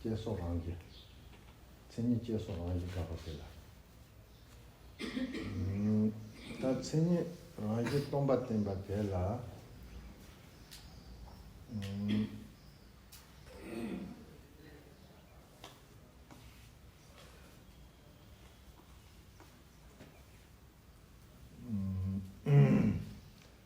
ཅེས་སོགས་རང་གི། མཚན་ཉིད་ཅེས་སོགས་རང་བཞིན་དགག་པ་དེ་ལ། ད་མཚན་ཉིད་རང་བཞིན་སྟོང་པ་བསྟན་པ་དེ་ལ།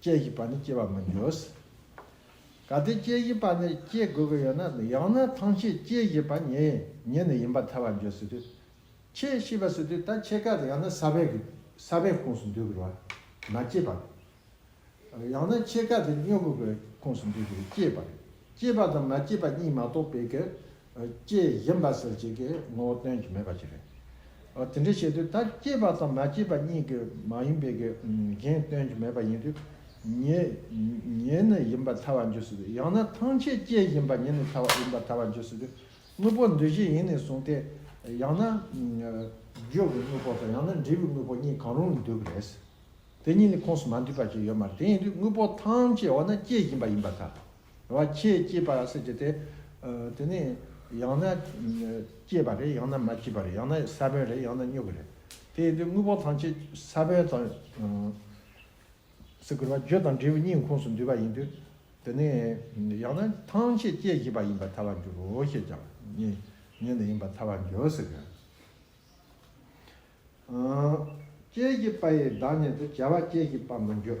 སྐྱེ་བཞིན་པ་ནི་སྐྱེ་བར་མི་འགྱུར། གལ་ཏེ་སྐྱེ་བཞིན་པ་ནི་སྐྱེ་དགོས་ཀྱི་ཡོད་ན་ཡང་ན་ཐམས་ཅད་སྐྱེ་བཞིན་པ་ཉིད་ནི་ཡིན་པར་ཐལ་བར་འགྱུར་སྲིད་དུས་ཕྱིས་ཤི་བ་སྲིད་དུས་ད་ཆད་ཀ་ཡང་ན་ས་བོན་གྱི་ས་བོན་ཁུངས་སུ་འདུས་བར་མ་སྐྱེས་པ་རེད། ཡང་ན་ཕྱེད་ཀ་དེ་སྨྱོ་ཀུ་གི་ཁུངས་སུ་འདུས་པས་སྐྱེས་པ་རེད། སྐྱེས་པ་དང་མ་སྐྱེས་པ་གཉིས་མ་གཏོགས་པའི་གི་སྐྱེས་བཞིན་པ་ཟེར་བྱེད་ཀྱི་ངོ་བོ་སྟོན་གྱི་མེད་པ་ཞིག་རེད། དེ་འདྲ་བྱེད་དུས་ད་སྐྱེས་པ་དང་མ་སྐྱེས་པ་གཉིས་ཀྱི་མ་ཡིན་པའི་གི་གཞན་སྟོན་གྱི་མེད་པ་ཡིན་དུས་ཉིད་ནི་ཡིན་པར་ཐལ་བར་འཇུག་སྲིད་དུས་ཡང་ན་ཐང་ཆད་སྐྱེས་བཞིན་པ་ཉིད་ནི་ཐལ་བ་ཡིན་པར་ཐལ་བར་འཇུག་སྲིད་དུས་དངོས་པོ་འདུས་བྱས་ཡིན་ནས་བཟུང་སྟེ་ཡང་ན་བརྗོད་པའི་དངོས་པོ་དང་ཡང་ན་འབྲས་བུའི་དངོས་པོ་གཉིས་གང་རུང་ལ་འདུས་པ་རེད། དེ་གཉིས་ནི་ཁོངས་སུ་མ་འདུས་པ་ཞིག་ཡོད་མ་རེད་དེ་ཡིན་དུས་དངོས་པོ་ཐང་ཆད་འོ་ན་སྐྱེས་བཞིན་པ་ཡིན་པར་ཐལ། བ་ཁྱེད་སྐྱིད་པ་ཟེར་གྱི་དེ། དེ་ནི་ཡང་ན་སྐྱིད་པ་རེད་ཡང་ན་མ་སྐྱིད་པ་རེད་ཡང་ན་ས་བོན་རེད་ཡང་ན་སྨྱུ་གུ་རེད། དེ་ཡིན་དུས་དངོས་པོ་ཐམས་ཅད་ས་བོན་དང། སེ་གོལ་བ་རྒྱུད་དང་འབྲས་བུའི་སྙིང་ཁོངས་སུ་འདུས་པ་ཡིན་དུས། དེ་ནི་ཡང་ན་ཐམས་ཅད་སྐྱེད་བྱེད་པ་ཡིན་པར་ཐལ་བར་འགྱུར་རོ་ཞེས་ཀྱང་ཉན་ནས་ཡིན་པར་ཐལ་བར་འགྱུར་ཟེར་གྱི། སྐྱེད་བྱེད་པ་ཡི་བདག་ཉིད་དུ་བྱ་བ་སྐྱེད་བྱེད་པར་མི་འགྱུར།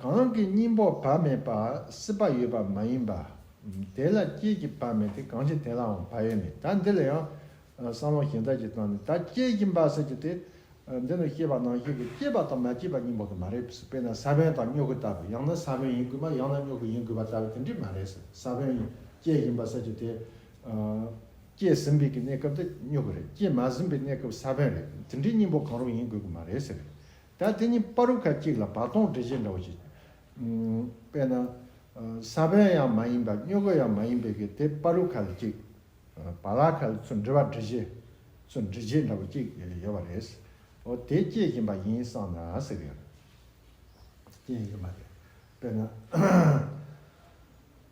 གང་གི་སྙིང་པོ་བག་མེད་པ་སྲིད་པ་ཡོད་པ་མ་ཡིན་པ། དེ་ལ་སྐྱེས་ཀྱི་བག་མེད་དེ་གང་ཞིག་དེ་ལའང་བག་ཡོད་མེད་ད་འདི་ལ་ཡང་བསམ་བློ་གཞན་དག་གིས་བཏང་ནས་ད་སྐྱེས་ཀྱི་བག་ཟེར་གྱི་དེ་འདི་ནི་སྐྱེས་པ་ནང་བཞིན་དུ་སྐྱེས་པ་དང་མ་སྐྱེས་པ་གཉིས་པོ་དེ་མ་རེད་ཟེར་དཔེར་ན་ས་བོན་དང་སྨྱོ་གུ་ལྟ་བུ་ཡང་ན་ས་བོན་ཡིན་དགོས་པ་ཡང་ན་སྨྱོ་གུ་ཡིན་དགོས་པ་ལྟ་བུ་དེ་འདྲས་མ་རེད་ཟེར་ས་བོན་སྐྱེས་ཀྱི་བག་ཟེར་གྱི་དེ། སྐྱེས་ཟིན་པའི་གི་གནས་སྐབས་དེ་སྨྱོ་གི་རེད་སྐྱེས་མ་ཟིན་པའི་གནས་སྐབས་ས་བོན་རེད་དེ་འདྲའི་སྙིང་པོ་གང་རུང་ཡིན་དགོས་གི་མ་རེད་ཟེར་གི་ད་དེ་གཉིས་པ་རུ་ཁ་གཅིག་ལ་བག་སྟོང་འགྲེལ་བྱེད་འདྲ་བོ་ཞིག་དཔེར་ན། ས་བོན་ཡང་མ་ཡིན་པ་སྨྱོ་གི་ཡང་མ་ཡིན་པའི་གི་དེ་པ་རུ་ཁ་ལ་གཅིག་བ་ལ་ཁ་ལ་ཚུར་འདྲི་བ་འདྲི་བྱེད་ཚུར་འདྲི་བྱེད་འདྲ་བོ་གཅིག་ཡོད་པ་རེད། འོ་དེ་སྐྱེས་བཞིན་པ་ཡིན་བསམ་ན་ཟེར་གི་ཡོད། སྐྱེས་ཡིན་གི་མ་རེད་དཔེར་ན།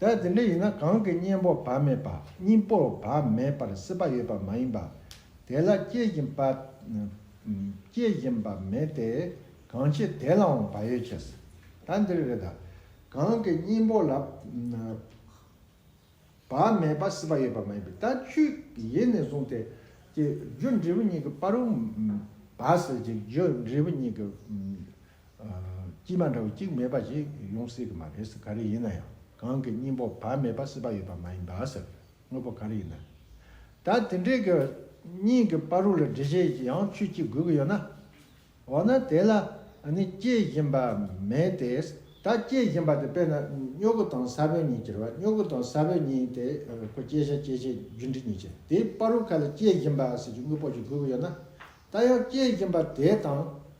ད་དེ་འདྲ་ཡིན་ན་གང་གི་གཉེན་པོར་བག་མེད་པ་གཉིས་པོར་བག་མེད་པར་སྲིད་པ་ཡོད་པ་མ་ཡིན་པ། དེ་ལ་སྐྱེ་བཞིན་པ། སྐྱེ་བཞིན་པ་མེད་དེ། གང་ཕྱིར་དེ་ལའང་བག་ཡོད་ཆེ། ད་འདིར་རེ་ད། གང་གི་གཉེན་པོ་ལ། བག་མེད་པར་སྲིད་པ་ཡོད་པ་མ་ཡིན་པས་ད་ཆུད་ཡེ་ནས་བཟུང་སྟེ། ཀྱི་རྒྱུ་འབྲས་བུ་གཉིས་ཀྱི་བར། བག་སྲིད་ཀྱི་རྒྱུ་འབྲས་བུ་གཉིས་ཀྱི། ཀྱིས་མ་འདྲ་བ་གཅིག་མེད་པ་ཞིག་ཡོང་སྲིད་ཀྱི་མ་རེད་ཟེར་ག་རེ་ཡིན་ན་ཡང་གང་གི་སྙིང་པོ་བ་མེད་པ་སྲིད་པ་ཡོད་པ་མ་ཡིན་པ་ཟེར་དངོས་པོ་ག་རེ་ཡིན་ན་ད་དེ་འདྲའི་གི་སྙིང་གི་པ་རུ་ལ་འདྲི་བྱེད་ཀྱི་ཡང་ཆོས་གཅིག་དགོས་ཀྱི་ཡོད་ན། འོ་ན་དེ་ལ་ནི་སྐྱེ་བཞིན་པ་མེད་དེ་ད་སྐྱེ་བཞིན་པ་དེ་དཔེར་ན་སྨྱོ་གུ་དང་ས་བོན་གཉིས་ཅེར་བ་སྨྱོ་གུ་དང་ས་བོན་གཉིས་དེ་ཁོ་སྐྱེ་བྱ་སྐྱེ་བྱེད་རྒྱུ་འབྲས་གཉིས་ཅེར་དེའི་པ་རུ་ཁ་ལ་སྐྱེ་བཞིན་པ་ཟེར་གྱི་དངོས་པོ་ཅིག་དགོས་ཀྱི་ཡོད་ན། ད་ཡང་སྐྱེ་བཞིན་པ་དེ་དང་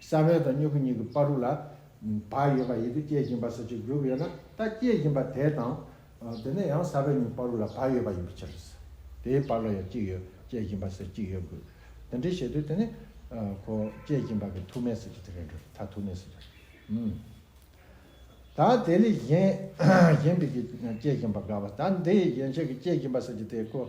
ས་བོན་དང་སྨྱུ་གུ་གཉིས་ཀྱི་པར་རུ་ལ་བག་ཡོད་པ་ཡིད་དུ་སྐྱེད་བཞིན་པ་སོགས་ཀྱི་སྒྲུབ་ཡོད་ན་ད་སྐྱེད་བཞིན་པ་དེ་དང། དེ་ནས་ཡང་ས་བོན་གཉིས་པར་རུ་ལ་བག་ཡོད་པ་ཡིན་པའི་ཕྱིར། དེའི་བར་ལ་ཡང་གཅིག་ཡོད་སྐྱེད་བཞིན་པ་སོགས་གཅིག་ཡོད་དགོས། དེ་འདྲའི་བྱེད་དུས་དེ་ནི། གོ། སྐྱེད་བཞིན་པ་གི་ཐུག་མེད་སོགས་ཀྱི་དེ་ལས་འགྲོ་བས་ཐ་ཐུག་མེད་སོགས་ཀྱི། ད་དེ་ལས་གཞན། གཞན་པའི་གིས་སྐྱེད་བཞིན་པ་དགའ་བ་ད་འདིའི་གཞན་ཕྱིར་གྱི་སྐྱེད་བཞིན་པ་སོགས་ཀྱི་དེ་གོ།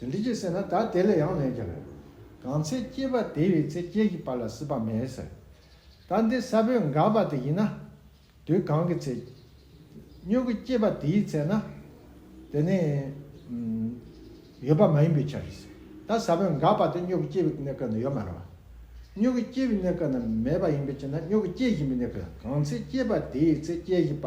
དེ་འདི་སྐྱེས་ཟེར་ན་ད་དེ་ལས་ཡང་ལན་རྒྱབ་ཡོད། གང་ཚེ་སྐྱེས་པ་དེ་བས་ཚེ་སྐྱེས་ཀྱི་བར་ལ་སྲིད་པ་མེད་ཟེར། ད་འདི་ས་བོན་འགག་པ་དེ་ཡིན་ན། དུས་གང་གི་ཚེ། སྨྱུ་གུ་སྐྱེས་པ་དེའི་ཚེ་ན། དེ་ནི། ཡོད་པ་མ་ཡིན་པའི་ཕྱིར། ད་ས་བོན་འགག་པ་དེ་སྨྱུ་གུ་སྐྱེས་པའི་གནས་སྐབས་ན་ཡོད་མ་རུང་བ། སྨྱུ་གུ་སྐྱེས་པའི་གནས་སྐབས་ན་མེད་པ་ཡིན་པའི་ཕྱིར་ན་སྨྱུ་གུ་སྐྱེས་བཞིན་པའི་གནས་སྐབས་ན་གང་ཚེ་སྐྱེས་པ་དེའི་ཚེ་སྐྱེས་བཞིན་པ་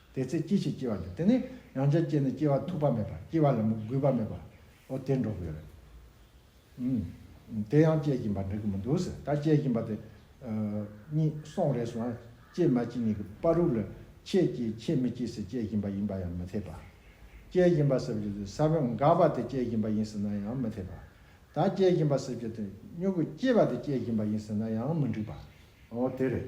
དེ་ཚེ་ཅི་ཞིག་སྐྱེ་བ་འདི་དེ་ནི་ཡང་བསྐྱར་སྐྱེས་ན་སྐྱེ་བ་ཐུག་པ་མེད་པར་སྐྱེ་བ་ལ་མི་དགོས་པ་མེད་པའོ་དེ་འགྲོ་གི་ཡོད་རེད། དེ་ཡང་སྐྱེ་བཞིན་པ་འགྲིག་གི་མི་འདུག་ཟེར་ད་སྐྱེ་བཞིན་པ་དེ་གཉིས་སོང་རེས་སུའང་སྐྱེས་མ་སྐྱེས་གཉིས་ཀྱི་དཔའ་རུ་ལ་ཁྱེད་སྐྱེས་ཁྱེད་མི་སྐྱེས་ཟེར་སྐྱེ་བཞིན་པ་ཡིན་པ་ཡང་མི་འཐད་པ། སྐྱེ་བཞིན་པ་ཟེར་བ་དེ་ས་བོན་འགག་པ་དེ་སྐྱེ་བཞིན་པ་ཡིན་ཟེར་ན་ཡང་མི་འཐད་པ། ད་སྐྱེ་བཞིན་པ་ཟེར་བ་དེ་སྨྱུ་གུ་སྐྱེས་པ་དེ་སྐྱེ་བཞིན་པ་ཡིན་ཟེར་ན་ཡང་མི་འགྲིག་པའོ་དེ་རེད།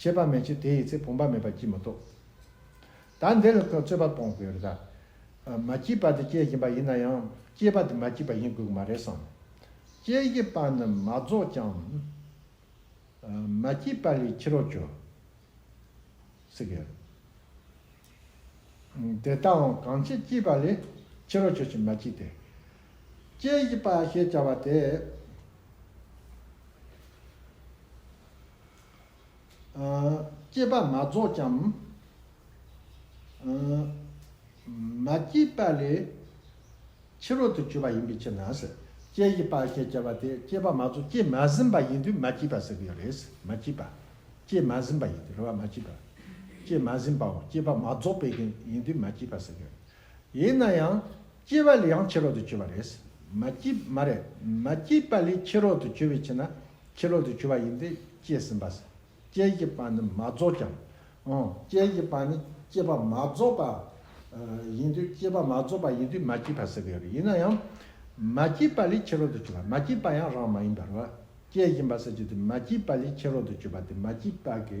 བྱེད་པ་མེད་ཀྱི་དེ་ཡི་ཚེ་བུམ་པ་མེད་པ་སྐྱིད་མི་ཐོབ། ད་འདི་ལ་ཁོས་རྩོད་པ་སྤོང་དགོས་རེད་ད། མ་སྐྱིད་པ་དེ་སྐྱེ་བཞིན་པ་ཡིན་ན་ཡང་སྐྱེས་པ་དེ་མ་སྐྱིད་པ་ཡིན་དགོས་ཀྱི་མ་རེད་བསམ། སྐྱེ་བཞི་པ་ནི་མ་རྫོགས་ཀྱང། མ་སྐྱིད་པ་ལས་ཁྱི་རོག་གྱོ། སི་གེ། དེ་ལྟའང་གང་སྐྱིད་སྐྱིད་པ་ལས་ཁྱི་རོག་གྱོ་ཞིག་མ་སྐྱིད་དེ། སྐྱེ་བཞི་པ་ཞེས་བྱ་བ་དེ། སྐྱེས་པ་མ་རྫོགས་ཀྱང། མ་སྐྱེས་པ་ལས་ཕྱི་རོལ་དུ་གྱུར་པ་ཡིན་པའི་ཕྱིར་ན། སྐྱེ་བཞི་པ་ཞེས་བྱ་བ་དེ་སྐྱེས་པ་མ་རྫོགས་སྐྱེས་མ་ཟིན་པ་ཡིན་དུས་མ་སྐྱེས་པ་ཟེར་གྱི་ཡོད་རེད། མ་སྐྱེས་པ། སྐྱེས་མ་ཟིན་པ་ཡིན་དུས་རེ་བ་མ་སྐྱེས་པ། སྐྱེས་མ་ཟིན་པའོ་སྐྱེས་པ་མ་རྫོགས་པའི་ཡིན་དུས་མ་སྐྱེས་པ་ཟེར་གྱི་ཡོད་རེད། ཡིན་ན་ཡང། སྐྱེས་པ་ལས་ཡང་ཕྱི་རོལ་དུ་གྱུར་པ་རེད། མ་སྐྱེས། མ་རེད། མ་སྐྱེས་པ་ལས་ཕྱི་རོལ་དུ་གྱུར་པའི་ཕྱིར་ན། ཕྱི་རོལ་དུ་གྱུར་པ་ཡིན་ཏེ་སྐྱེས་ཟིན་པ། སྐྱེས་ཀྱི་བར་ནི་མ་རྫོགས་ཀྱང། འོན་སྐྱེས་ཀྱི་བར་ནི་སྐྱེས་པ་མ་རྫོགས་པ། ཡིན་དུས་སྐྱེས་པ་མ་རྫོགས་པ་ཡིན་དུས་མ་སྐྱེས་པ་ཟེར་གྱི་ཡོད་རེད་ཡིན་ན་ཡང། མ་སྐྱེས་པ་ལས་ཕྱི་རོལ་དུ་གྱུར་པ་མ་སྐྱེས་པ་ཡང་རང་མ་ཡིན་པར། སྐྱེས་ཡིན་པ་ཟེར་གྱི་དུས་མ་སྐྱེས་པ་ལས་ཕྱི་རོལ་དུ་གྱུར་པ་དེ་མ་སྐྱེས་པ་གི་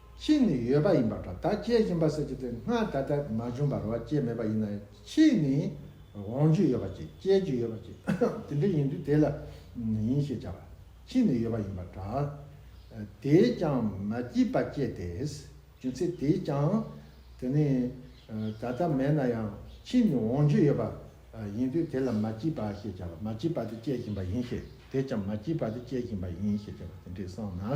ཕྱིས་ནི་ཡོད་པ་ཡིན་པ་དང་ད་སྐྱེ་བཞིན་པ་སོགས་ཀྱི་དོན་སྔར་ད་ལྟར་མ་བྱུང་བར་བ་ཅད་མེད་པ་ཡིན་ན་ཕྱིས་ནི་འོང་རྒྱུ་ཡོད་པ་ཅི་སྐྱེ་རྒྱུ་ཡོད་པ་ཅི་དེ་འདྲ་ཡིན་དུས་དེ་ལ་ཡིན་ཞེས་བྱ་བ་ཕྱིས་ནི་ཡོད་པ་ཡིན་པ་དང། དེས་ཀྱང་མ་སྐྱེས་པ་བསྐྱེད་དེ་རྒྱུ་མཚན་དེས་ཀྱང་དེ་ནི་ད་ལྟ་མེད་ན་ཡང་ཕྱིས་ནི་འོང་རྒྱུ་ཡོད་པ་ཡིན་དུས་དེ་ལ་མ་སྐྱེས་པ་ཞེས་བྱ་བ་མ་སྐྱེས་པ་དེ་སྐྱེ་བཞིན་པ་ཡིན་ཞེས་དེས་ཀྱང་མ་སྐྱེས་པ་དེ་སྐྱེ་བཞིན་པ་ཡིན་ཞེས་བྱ་བ་དེ་འདྲས་སོང་ན།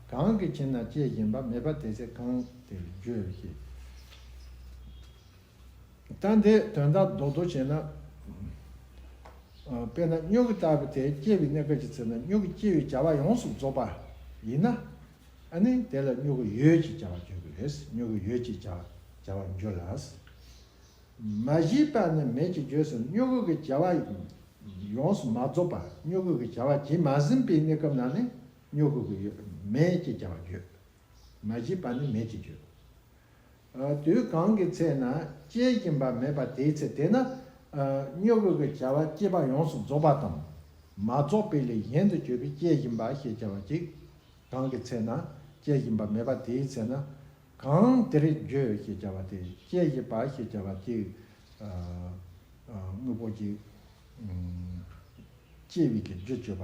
གང་གི་ཕྱིར་ན་སྐྱེ་བཞིན་པ་མེད་པ་དེ་ཚེ་གང་དེར་བརྗོད་ཀྱི། ལྟ་འདི་དོན་དག་རྡོག་རྡོག་བྱེད་ན། དཔེར་ན་སྨྱུག་གིས་བཏགས་པའི་དེའི་སྐྱེ་བའི་གནས་སྐབས་ཀྱི་ཚེ་ན་སྨྱུག་གི་སྐྱེ་བའི་བྱ་བ་ཡོངས་སུ་རྫོགས་པ་ཡིན་ན། ནི་དེ་ལ་སྨྱུག་གི་ཡོད་ཅེས་བྱ་བར་བརྗོད་ཀྱི་རེད། སྨྱུག་གི་ཡོད་ཅེས་བྱ་བར་འགྱུར་ལ། མ་གཞི་པ་ནི་མེད་ཀྱི་རྗེས་སུ་སྨྱུག་གུ་གི་བྱ་བ་ཡོངས་སུ་མ་རྫོགས་པ་སྨྱུག་གུ་གི་བྱ་བ་བྱེད་མ་ཟིན་པའི་གནས་སྐབས་ན་ནི་སྨྱོ་གུ་གུ་ཡོད་མེད་ཅེས་བྱ་བ་བརྗོད། མ་བཞི་པ་ནི་མེད་ཅེས་བརྗོད། དུས་གང་གི་ཚེ་ན་སྐྱེ་བཞིན་པ་མེད་པ་དེའི་ཚེ་དེ་ན་སྨྱོ་གུ་གུ་བྱ་བ་སྐྱེས་པ་ཡོངས་སུ་རྫོགས་པ་དང། མ་རྫོགས་པའི་ལས་གཞན་དུ་གྱུར་པའི་སྐྱེ་བཞིན་པ་ཞེས་བྱ་བ་ཅིག། གང་གི་ཚེ་ན་སྐྱེ་བཞིན་པ་མེད་པ་དེའི་ཚེ་ན། གང་དེར་བརྗོད་ཅེས་བྱ་བ་དེ་སྐྱེ་བཞིན་པ་ཞེས་བྱ་བ་ཅིག། དངོས་པོ་གཅིག། སྐྱེ་བའི་རྒྱུ་བརྗོད་པ།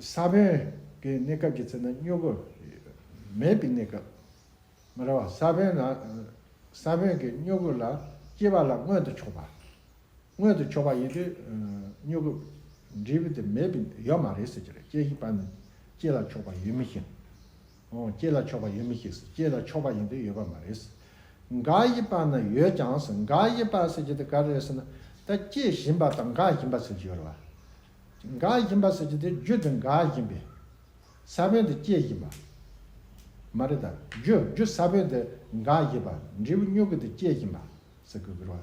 ས་བོན་གྱི་གནས་སྐབས་ཀྱི་ཚེ་ན་སྨྱུ་གུ་མེད་པའི་གནས་སྐབས། མི་ར་བ་ས་བོན་ལ་ས་བོན་གྱི་སྨྱུ་གུ་ལ་སྐྱེ་བ་ལ་མངོན་དུ་ཕྱོགས་པ། མངོན་དུ་ཕྱོགས་པ་ཡིན་དུས་སྨྱུ་གུ་འབྲས་བུ་དེ་མེད་པའི་ཡོད་མ་རེད་ཟེར་གྱི་རེད་སྐྱེ་བཞི་པ་ནི་སྐྱེ་ལ་ཕྱོགས་པ་ཡོད་མི་ཤེས། སྐྱེས་ལ་ཆོག་པ་ཡོད་མི་ཤེས་སོ་སྐྱེས་ལ་ཆོག་པ་ཡིན་དུས་ཡོད་པ་མ་རེད། འགའ་ཡིས་པར་ན་ཡོད་ཀྱང་ཟེར་འགའ་ཡིས་པར་ཟེར་གྱི་དེ་ག་རེད་ཟེར་ན། ད་སྐྱེས་བཞིན་པ་དང་འགའ་བཞིན་པ་ཟེར་གྱི་ཡོད་རེད་བ། འགའ་བཞིན་པ་ཟེར་གྱི་དེ་རྒྱུ་དེ་འགའ་བཞིན་པས་ས་བོན་དེ་སྐྱེས་བཞིན་པ། མ་རེད་ད་རྒྱུ་རྒྱུ་ས་བོན་དེ་འགའ་བཞིན་པ་འབྲས་བུ་སྨྱུག་གུ་དེ་སྐྱེས་བཞིན་པ་ཟེར་གི་རེད་བ།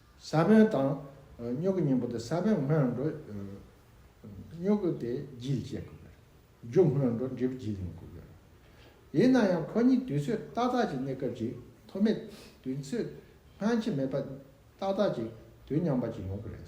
ས་བོན་དང། སྨྱུ་གུ་གཉིས་པོ་དེ་ས་བོན་སྔོན་འགྲོ། སྨྱུ་གུ་དེ་རྒྱུད་ཅེས་བཀོད་པས། རྒྱུད་སྔོན་འགྲོ་འབྲས་བུ་རྒྱུད་ཡིན་བཀོད་ཡོད། ཡིན་ན་ཡང་ཁོ་གཉིས་དུས་ཚོད་ཏག་ཏག་ཅིག་གནས་སྐབས་ཀྱི་ཐོག་མའི་དུས་ཚོད་སྔ་ཕྱི་མེད་པར་ཏག་ཏག་ཅིག་དུས་མཉམ་པ་ཅིག་ཡོང་གི་རེད།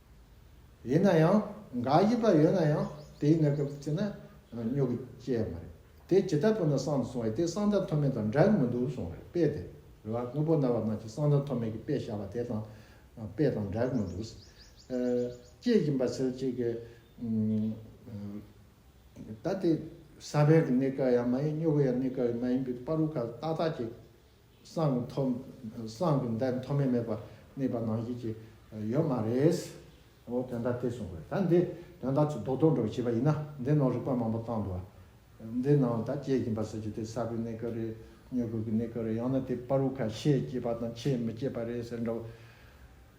ཡིན་ན་ཡང་འགའ་ཡིད་པ་ཡོད་ན་ཡང་དེའི་གནས་སྐབས་བརྩིས་ན་སྨྱོ་གི་སྐྱེས་མ་རེད་དེ་ཇི་ལྟ་བུ་ན་གསང་དུ་སོང་བས་དེ་གསང་བདག་མཐོ་དམན་དང་འདྲ་གི་མི་འདུག་སོང་རེད་དཔེ་དེ་རེད་བ་དངོས་པོ་རྣ་བ་རྣམས་ཀྱི་གསང་བདག་མཐོ་དམན་གྱི་དཔེ་བཞག་པ་དེ་དང་དཔེ་དང་འདྲ་གི་མི་འདུག། སྐྱེས་བཞིན་པ་ཚེ་གཅིག་གི། ད་དེ་ས་བོན་གི་གནས་སྐབས་ཡང་མ་ཡིན་སྨྱོ་གི་ཡང་གནས་སྐབས་ཡང་མ་ཡིན་པའི་པར་རུ་ཁ་ཏག་ཏག་ཅིག། སངས་མཐོ། སངས་ཀྱི་མདའི་མཐོ་དམན་མེད་པར་དམིགས་པ་ནང་བཞིན་གྱི་ཡོད་མ་རེད། འོ་དོན་དག་དེ་གསུང་དགོས་ད་འདི་དོན་དག་ཚོ་རྡོག་རྡོག་འགྲོ་བྱས་པ་ཡིན་ན་འདི་ནང་རིག་པ་མང་པོ་བཏང་འདུག་ཨ། འདི་ནང་ད་སྐྱེས་ཀྱིན་པ་ཟེར་རྒྱུ་དེ་ས་བོན་གནས་སྐབས་རེད་མྱུ་གུ་གི་གནས་སྐབས་རེད་ཡང་ན་དེ་པར་བུ་ཁ་ཤས་སྐྱེས་པ་དང་ཆེས་མི་སྐྱེས་པ་རེད་ཟེར་འདྲ་བོ།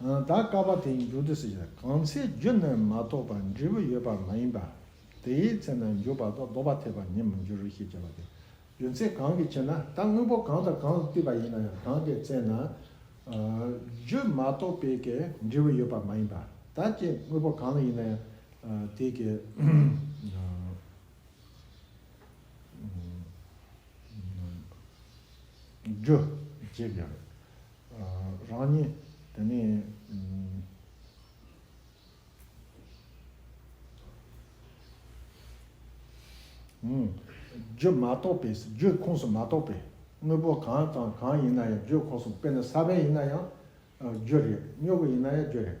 ད་ཀ་བ་དེའི་མཇུག་ཏུ་སྲིད་པའི་གང་ཚེ་རྒྱུ་ནི་མ་གཏོགས་པར་འབྲས་བུ་ཡོད་པ་མ་ཡིན་པ། དེའི་ཚེ་ན་འཇུག་པ་དང་ལྡོག་པ་འཐད་པར་ནི་མི་འགྱུར་ཞེས་བྱ་བ་སྟེ། རྒྱུ་མཚན་གང་གི་ཕྱིར་ན་ད་དངོས་པོ་གང་དང་གང་བསྟུན་པ་ཡིན་ན་ཡང་གང་གི་ཚེ་ན། རྒྱུ་མ་གཏོགས་པའི་ཀའི་འབྲས་བུ་ཡོད་པ་མ་ཡིན་པ་ད་ཀའི་དངོས་པོ་གང་ཡིན་ན་ཡང་དེའི་ཀའི། རྒྱུ། ཅེས་བྱ་བ་སྟེ། རང་ཉིད་དེ་ནས་རྒྱུད་མ་རྟོགས་པས་རྒྱུད་ཁོངས་སུ་མ་གཏོགས་པའི་དངོས་པོ་གང་དང་གང་ཡིན་ན་ཡང་རྒྱུད་ཁོངས་སུ་དཔེར་ན་ས་བོན་ཡིན་ན་ཡང་རྒྱུད་རེད་སྨྱུ་གུ་ཡིན་ན་ཡང་རྒྱུད་རེད།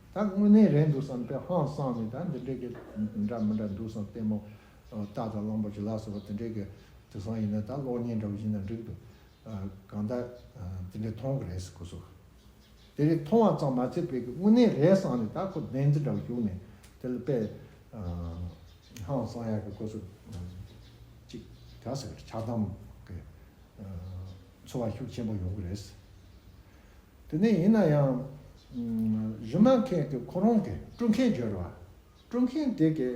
ད་དངོས་གནས་རེད་འདུག་བསམ་སྟེ་ཧང་སངས་ནས་ད་འདི་འདྲའི་གི་འདྲ་མི་འདྲ་འདུག་བསམ་སྟེ་མོ་རྟ་དང་གླང་པོ་ཆུ་ལག་ཟེར་བ་དེ་འདྲའི་གི་དུ་སང་ཡིན་ན་ད་གློག་བརྙན་འདྲ་བོ་ཞིག་ན་འགྲིག་འདུག་གང་ལྟར་དེ་འདྲའི་མཐོང་གི་རེད་ཟེར་གོ་སོ། དེ་རེད་མཐོང་བ་ཙམ་མ་ཚད་དཔེ་གི་དངོས་གནས་རེད་བསམ་ནས་ད་ཁོ་བདེན་རྫུན་འདྲ་བོ་ཞུགས་ནས་དེ་ལ་དཔེ་ཧང་སང་ཡག་གི་གོ་སོ། ཅིག་ག་ཟེར་ཆགས་སྡང་གི་འཚོ་བ་ཤུགས་ཆེན་པོ་ཡོང་གི་རེད། དེ་ནས་ཡིན་ན་ཡང། གཞུང་ནང་མཁན་གྱི་ཁོ་རང་གི་དཀྲུག་མཁན་སྦྱོར་བ། དཀྲུག་མཁན་དེ་གའི་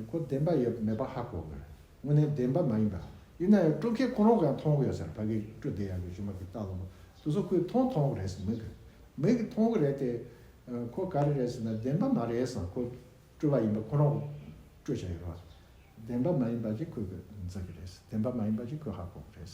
ཁོ་བདེན་པ་ཡོད་མེད་པ་ཧ་གོ་དགོས། དངོས་གནས་བདེན་པ་མ་ཡིན་པ། ཡིན་ན་ཡང་དཀྲུག་མཁན་ཁོ་རང་གིས་ཡང་མཐོང་གི་ཡོད་ཟེར་བ་གིས་དཀྲུག་བདེ་ཡག་གི་གཞུང་མ་གིས་བལྟ་ལོ། དུ་སོ་ཁོས་མཐོང་མཐོང་གི་རེད་ཟེར་མོད་ཀྱི། མོད་ཀྱི་མཐོང་གི་རེད་དེ། ཁོ་ག་རེ་རེད་ཟེར་ན་བདེན་པ་མ་རེད་ཟེར་ན་ཁོ་དཀྲུག་བ་ཡིན་པ་ཁོ་རང་གི་དཀྲུག་བྱ་ཡོད་པ། བདེན་པ་མ་ཡིན་པ་ཅིག་ཁོས་གོ་འཛོལ་གི་རེད། བདེན་པ་མ་ཡིན་པ་ཅིག་ཁོས་ཧ་གོ་གི་རེད།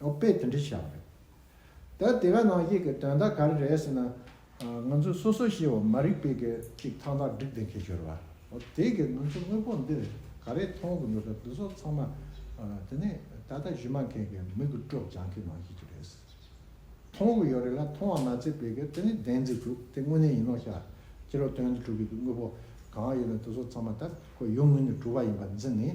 ཨོ་དཔེ་དེ་འདྲ་བཞག་རེད། ད་དེ་ག་ནང་བཤད་ཀྱི་དོན་དག་ག་རེ་རེད་ཟེར་ན། ང་ཚོས་སོ་སོ་ཤེས་བ་མ་རིག་པའི་གི་ཅིག་ཐང་ཐང་བསྒྲིགས་བསྡད་ཁེལ་ཤོར་བ། ཨོ་དེ་གི་ང་ཚོ་དངོས་པོ་འདི་ག་རེ་མཐོང་གི་འདུག་ད་འདི་ཚོ་ཚང་མ་དེ་ནི་ད་ལྟ་གཞི་མ་མཁན་གི་མི་གི་སྤྲོ་སྦྱང་གི་ནང་བཤད་ཀྱི་རེད། མཐོང་གི་ཡོད་རེད་ལ་མཐོང་བ་མ་ཚད་པའི་གི་དེ་ནི་བདེན་ཚིག་དྲུག་དེ་དངོས་གནས་ཡིན་ནོ་ཤག་ཁྱེད་རོ་དོན་དེ་དྲུག་གི་དངོས་པོ་གང་ཡོད་ན་དེ་ཚོ་ཚང་མ་ད་ཁོ་ཡོང་ངུས་ནས་དྲུག་བ་ཡིན་པ་འཛིན་ནས་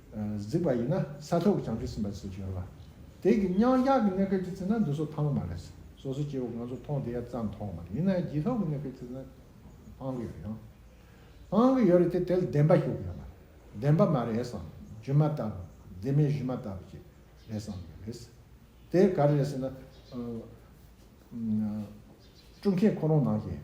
གཟིགས་པ་ཡིན་ན་ས་ཐོག་གི་བྱང་ཆུབ་སེམས་དཔའ་སུ་འབྱོར་བ། དེ་གི་མྱང་གཞག་གི་གནས་སྐབས་ཀྱི་ཚེ་ན་འདི་སོགས་ཐང་མ་རེད། སོ་སོ་སྐྱེ་བོ་ང་ཚོ་མཐོང་དེ་ཡ་ཙམ་མཐོང་མ་རེད་ཡིན་ན་ཡང་རྗེས་ཐོག་གི་གནས་སྐབས་ཚེ་ན་ཐང་གི་ཡོད་ཡང། ཐང་གི་ཡོད་རེད་དེ་དེ་ལ་བདེན་པ་ཞུ་གི་ཡོད་མ་རེད། བདེན་པ་མ་རེད་བསམ་རྒྱུ་མ་ལྟ་བུ་བདེན་མེད་གཞི་མ་ལྟ་བུ་ཞིག་རེད་བསམ་གི་རེད། དེ་ག་རེད་ཟེར་ན། སྤྲུལ་མཁན་ཁོ་རང་ནང་བཞིན།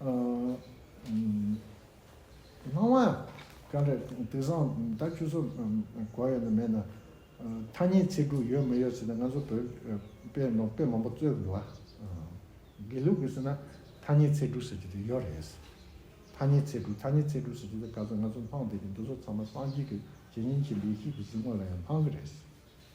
སྣང་བ། དེ་འདྲ་དེང་སང་ད་ཁྱོད་ཚོ་གོ་ཡོད་ན་མེད་ན། ཐ་སྙད་ཚིག་འབྲུ་ཡོད་མི་ཡོད་ཟེར་ན་ང་ཚོ་བོད་དཔེ་ནོར་དཔེ་མང་པོ་རྩོད་དགོས་ལ། དགེ་ལུགས་ཀྱིས་ཟེར་ན་ཐ་སྙད་ཚིག་འབྲུ་ཟེར་གྱི་དེ་ཡོད་རེད། ཐ་སྙད་ཚིག་འབྲུ་ཐ་སྙད་ཚིག་འབྲུ་ཟེར་གྱི་དེ་ག་ཚོད་ང་ཚོ་སྣང་བསྡད་ཀྱི་འདུག་ཚོ་ཚང་མ་སངས་རྒྱས་ཀྱི་རྗེས་ཉོན་ཅིག་ལས་ཤིག་གི་གཟིགས་ངོ་ལ་ཡང་སྣང་གི་རེད།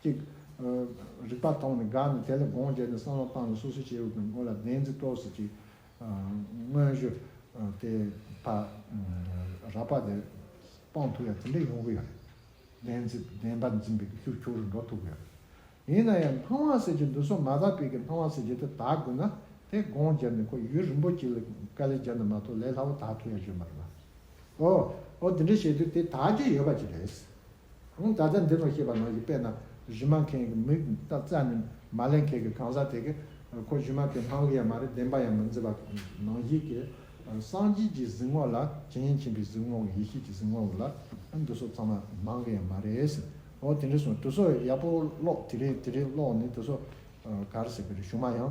གཅིག། རིག་པ་མཐོང་ནས་དགའ་ནས་དེ་ལ་དགོངས་བརྒྱད་ནས་བསམ་བློ་བཏང་ནས་སོ་སོའི་སྐྱེ་བོ་དང་ཀུན་ལ་བདེན་འཛིན་སྤྲོ་སེ་ཅིག། དངོས་གཞི། དེ། ཕ། ར་ཕ་དེ། སྤང་ཐུབ་ཡ་དེ་འདྲ་ཡོང་གི་ཡོད་རེད། བདེན་འཛིན་བདེན་པ་འཛིན་པའི་རྒྱུ་ཕྱོགས་རུ་འགྲོ་ཐུབ་ཀྱི་ཡོད་རེད། ཡིན་ན་ཡང་སྣང་བ་ཟེར་གྱི་འདུག་སོ་མ་དག་པའི་གི་སྣང་བ་ཟེར་གྱི་དེ་དག་དགོས་ན་དེ་དགོངས་བརྒྱད་ནས་ཁོ་ཡུལ་རིན་པོ་ཆེ་ལ་དཀའ་ལས་བརྒྱབ་ན་མ་ཐོག་ལས་སླ་བོ་དག་ཐུབ་ཡ་ཡོད་མ་རེད། འོ། འོ་དེ་འདྲ་བྱས་དུས་དེ་དག་རྒྱུ་ཡོད་པ་ཅིག་རེད། ད་ལྟ་འདི་ནོ་ཞེས་པ་ནང་བཞིན་དཔེར་ན་གཞུས་མ་མཁན་གྱི་མིག་ལྟ་རྩ་ནི་མ་ལེན་མཁན་གྱི་གང་ཟག་དེ་གས་ཁོ་གཞུས་མ་མཁན་ལྷང་ལྷིང་ཡང་མ་རེད་བདེན་པ་ཡང་མི་འཛིན་པ་དང་ནང་བཞིན་གས་སངས་རྒྱས་ཀྱི་གཟིགས་ངོགས་ལ་བྱིན་ཕྱིན་པའི་གཟིགས་ངོགས་ཡེ་ཤེས་ཀྱི་གཟིགས་ངོགས་ལ་འདུ་སོ་ཚང་མ་ནང་གི་ཡང་མ་རེད་ཟེར་འོ་དེ་འདྲས་སོང་དུ་སོ་ཡག་པོ་ཀློག་དེ་རིང་དེ་རིང་ཀློག་ནས་དུ་སོ་གར་ཟེར་གི་རེད་གཞུ་མ་ཡང།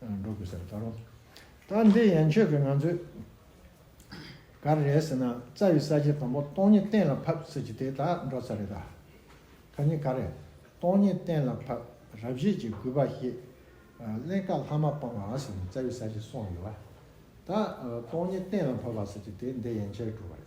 འགྲོ་དགོས་ཟེར་ད་རུང། ད་འདི་ཡན་ཆོད་ཀྱི་ང་ཚོས། ག་རེ་རེད་ཟེར་ན་རྩ་བའི་གསར་བརྗེ་དང་པོ་སྟོང་ཉིད་གཏན་ལ་ཕབ་ཟེར་གྱི་དེ་དག་འགྲོ་ཚར་རེད་ད། ད་ནི་ག་རེ། སྟོང་ཉིད་གཏན་ལ་ཕབ་རབ་བྱེད་ཀྱི་རྒུད་པ་ཞེས། གླེན་དཀར་ལྷག་མ་སྤང་བ་ཟེར་ནས་རྩ་བའི་གསར་བརྗེ་སོང་ཡོད་བ། ད། སྟོང་ཉིད་གཏན་ལ་ཕབ་པ་ཟེར་གྱི་དེ་འདི་ཡན་ཆད་འགྲོ་བ་རེད།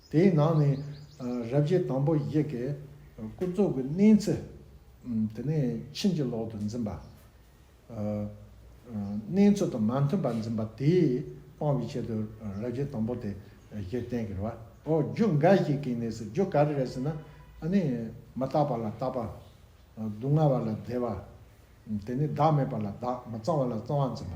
དེའི་ནང་ནས་རབ་བྱེད་དང་པོ་ཡི་གེ་ཀུན་རྫོབ་ཀྱི་གནས་ཚུལ། དེ་ནས་ཕྱིན་ཅི་ལོག་ཏུ་འཛིན་པ། གནས་ཚུལ་དང་མ་མཐུན་པར་འཛིན་པ་དེས་སྤང་བའི་ཆེད་དུ་རབ་བྱེད་དང་པོ་དེ་བཞི་བསྟན་གྱི་རོ། རྒྱུ་འགའ་ཞིག་གིས་ནི་ཟེར་རྒྱུ་ག་རེ་རེད་ཟེར་ན། མ་བརྟགས་པ་ལ་བརྟགས་པ། སྡུག་བསྔལ་བ་ལ་བདེ་བ། དེ་ནས་བདག་མེད་པ་ལ་བདག་མི་གཙང་བ་ལ་གཙང་བར་འཛིན་པ།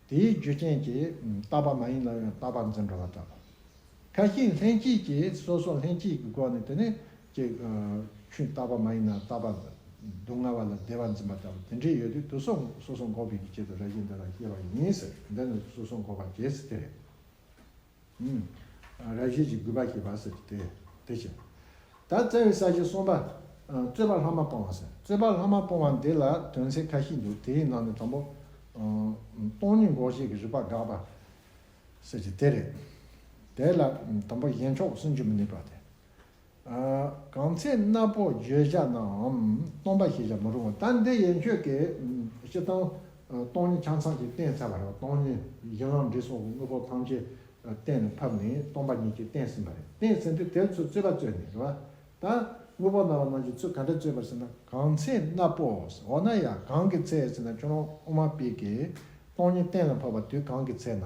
དེའི་རྒྱུ་རྐྱེན་གྱིས་རྟག་པ་མ་ཡིན་ན་ཡང་རྟག་པར་འཛིན་འགྲོ་བ་འདྲ། ཁ་ཞིང་ལྷན་སྐྱེས་ཀྱིས་སོ་སོ་ལྷན་སྐྱེས་ཀྱི་སྒོ་ནས་དེ་ནི་ཀྱི། ཆུ་རྟག་པ་མ་ཡིན་ན་རྟག་པར་སྡུག་བསྔལ་བ་ལ་བདེ་བར་འཛིན་པ་ལྟ་བུ་དེ་འདྲས་ཡོད་དུས་དུ་སོ་སོ་འགོག་པའི་ཡིད་བྱེད་དུ་ར་བཞིན་དེ་ལ་སྐྱེ་བ་ཡིན་ཟེར་འདི་ནི་དུ་སོ་སོ་འགོག་པ་རྒྱས་སུ་སྟེ། ར་བཞི་ཅིག་གུས་པ་བྱེད་པ་ཟེར་ཏེ། དེ་བྱས། ད་བཙལ་བའི་ས་གཞི་གསུམ་པ། རྩོད་པ་ལྷག་མ་སྤོང་བ་ཟེར། རྩོད་པ་ལྷག་མ་སྤོང་བ་འདི་ལ་དོན་ཚན་ཁ་ཤས་འདུག་དེའི་ནང་ནས་དང་པོ། སྟོང་ཉིད་འགོག་བྱེད་ཀྱི་རིགས་པ་དགག་པ། ཟེར་གྱི་དེ་རེད། དེ་ལ་དང་པོ་གཞན་ཕྱོགས་སུན་འབྱིན་མི་ནུས་པ་དེ། གང་ཚེ་སྣ་བོགས་བརྗོད་བྱ་རྣམས་སྟོང་པ་ཞེས་བྱ་མ་རུང་བ། ད་འདི་ཡན་ཆོད་ཀྱི་སྤྱི་དང། སྟོང་ཉིད་ཆ་ཚང་གཅིག་གཏན་ཚལ་བ་རེད། སྟོང་ཉིད་གཞན་ལམ་འབྲས་སོགས་ཀྱི་དངོས་པོ་ཐམས་ཅད་གཏན་ནས་ཕབ་ནས་སྟོང་པ་ཉིད་ཀྱིས་གཏན་ཟིན་པ་རེད། གཏན་ཟིན་དུས་དེར་ཚུལ་རྩོད་པ་རྩོད་ནས་རེད་བ། ད་དངོས་པོ་སྣང་བ་རྣམས་ཀྱི་ཚུལ་ག་འདྲ་རྩོད་པར་ཟེར་ན། གང་ཚེ་སྣ་བོགས་འོ་ན་ཡང་གང་གི་ཚེ་ཟེར་ན་ཁྱོད་རང་དབུ་མ་པས་ཀྱི་སྟོང་ཉིད་གཏན་ལ་ཕབ་པ་དུས་གང་གི་ཚེ་ན།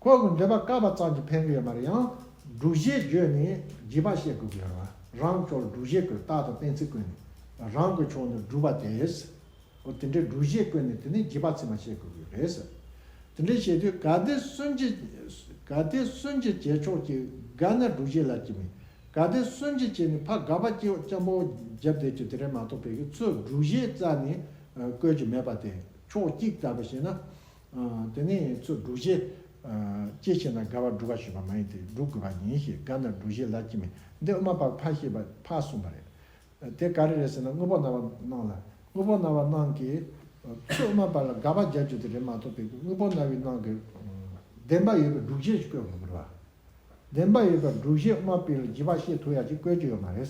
ཁོ་གི་འདོད་པ་བཀག་པ་ཙམ་གྱིས་ཕན་གི་ཡོད་མ་རེད་ཡང། སྒྲུབ་བྱེད་བརྗོད་ནས་བགྱིས་པ་བཤད་དགོས་ཀྱི་ཡོད་རེད་བ། རང་སྐྱོར་སྒྲུབ་བྱེད་ཀྱི་རྟགས་དང་གཏན་ཚིགས་བཀོད་ནས་རང་གི་ཕྱོགས་ནས་སྒྲུབ་པ་དེས། འོ་དེ་འདྲའི་སྒྲུབ་བྱེད་བཀོད་ནས་དེ་ནས་བགྱིས་པ་ཚིག་མ་བཤད་དགོས་ཀྱི་ཡོད་རེད། དེ་འདྲའི་བྱེད་དུས་ག་དེ་སུན་གྱིས་ག་དེ་སུན་གྱིས་བྱས་ཆོག་ཀྱི་ག་ནས་སྒྲུབ་བྱེད་ལ་བགྱིས་མིན་ག་དེ་སུན་གྱིས་བྱས་ནས་ཕ་ག་པ་སྐྱིད་སྐྱམ་པོ་རྒྱབ་བསྡད་ཀྱི་དེ་རིང་མ་གཏོགས་བལ་གྱི་ཚོས་སྒྲུབ་བྱེད་རྩ་ནས་བཀོད་ཀྱི་མེད་པ་དེ་ཕྱོགས་གཅིག་ལྟ་བུ་བྱས་ན། དེ་ནས་ཚུར་སྒྲུག་བྱེད། སྐྱེད་བྱེད་ན་དགའ་བར་སྒྲུག་ག་ཞུས་པ་མ་ཡིན་ཏེ་སྒྲུག་དགོས་པ་ཡིན་ཞེས་དགའ་ན་སྒྲུག་བྱེད་ལ་སྐྱེས་མིན་འདི་དབུ་མ་པར་ཕ་ཤེས་པ་ཕ་གསུངས་པ་རེད། དེ་ག་རེ་རེད་ཟེར་ན་དངོས་པོ་སྣང་བ་སྣང་ལ་དངོས་པོ་སྣང་བ་སྣང་གི། ཚུར་དབུ་མ་པར་ལ་དགའ་བ་སྦྱར་རྒྱུ་དེ་རེད་མ་གཏོགས་པའི་དངོས་པོ་སྣང་བའི་སྣང་གི། བདེན་པ་ཡོད་པའི་སྒྲུག་བྱེད་ཅིག་བཀོད་དགོས་མི་རུང་བ། བདེན་པ་ཡོད་པའི་སྒྲུག་བྱེད་དབུ་མ་པིར་ལ་བགྱི་བ་ཤེས་ཐུབ་ཡ་གཅིག་བཀོད་རྒྱུ་ཡོད་མ་རེད།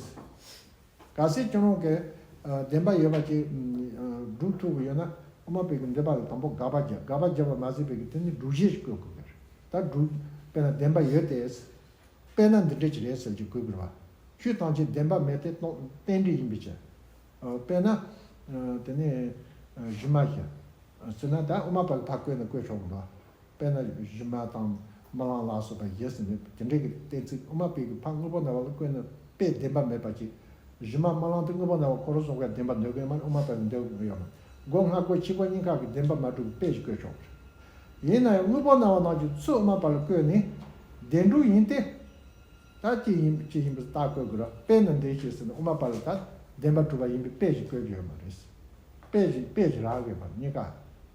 གལ་སྲིད་སྐྱོན་རོང་གི་བདེན་པ་ཡོད་པ་ཅིག་སྒྲུབ་ཐུབ་ཀྱི་ཡོད་ན་ཨ་མ་བོད་ཀྱི་འདོད་པ་ལ་དང་པོ་དགག་པ་བརྒྱབ་དགག་པ་བརྒྱབ་པ་མ་ཟིན་བོད་ཀྱི་དེ་ནི་སྒྲུབ་གཞི་ཞིག་བཀོད་དགོས་ཀྱི་རེད་ད་སྒྲུབ་དཔེ་ན་བདེན་པ་ཡོད་དེ། དཔེ་ན་འདི་འདྲ་ཅིག་རེད་ཟེར་གྱི་གོ་གི་རེད་བ། ཆུའི་སྟངས་ཀྱིས་བདེན་པ་མེད་དེ་རྟེན་འབྲེལ་ཡིན་པའི་ཕྱིར། དཔེ་ན། དེ་ནི་གཞི་མ་ཞིག། ཟེར་ན་ད་ཨ་མ་བོད་ལ་ཕར་བཀོད་ན་བཀོད་ཆོག་གི་རེད་བ། དཔེར་ན་གཞི་མ་དང་མ་ལངས་ལ་སོགས་པ་བཞེད་ཟིན་མོད་དེ་འབྲེལ་གྱི་གཏན་ཚིགས་དབུ་མ་སྤེལ་གྱི་ཕ་དངོས་པོ་རྣ་བ་ལ་བཀོད་ནས་དཔེ་བདེན་པ་མེད་པར་བྱེད། གཞི་མ་མ་ལངས་དེ་དངོས་པོ་རྣ་བ་ཁོ་རང་སོགས་ཀྱི་བདེན་པ་འདོད་མཁན་མ་དབུ་མ་སྤེལ་བའི་འདོད་ཡོད་ན་སྒོ་ང་སྒོ་ཕྱི་སྒོ་གཉིས་ཀ་གི་བདེན་པ་མ་གྲུབ་པའི་དཔེ་ཞིག་བཀོད་ཆོག་གི་རེད། ཡིན་ན་ཡང་དངོས་པོ་རྣ་བ་ནང་གི་ཚུལ་དབུ་མ་པ་ལ་བཀོད་ནས་བདེན་དྲུག་ཡིན་ཏེ། ད་ཅི་ཡིན་ཅི་ཡིན་པ་བརྟག་བཀོད་དགོས་རོགས་དཔེ་ནི་འདི་ཞེས་ཟེར་ནས་དབུ་མ་པ་ལ་ད་བདེན་པ་གྲུབ་པ་ཡིན་པའི་དཔེ་ཞིག་བཀོད་ཀྱི་ཡོད་མ་རེད། དཔེ་ཞིག་དཔེ་ཞིག་རག་དགོས་པ་གཉིས་ཀ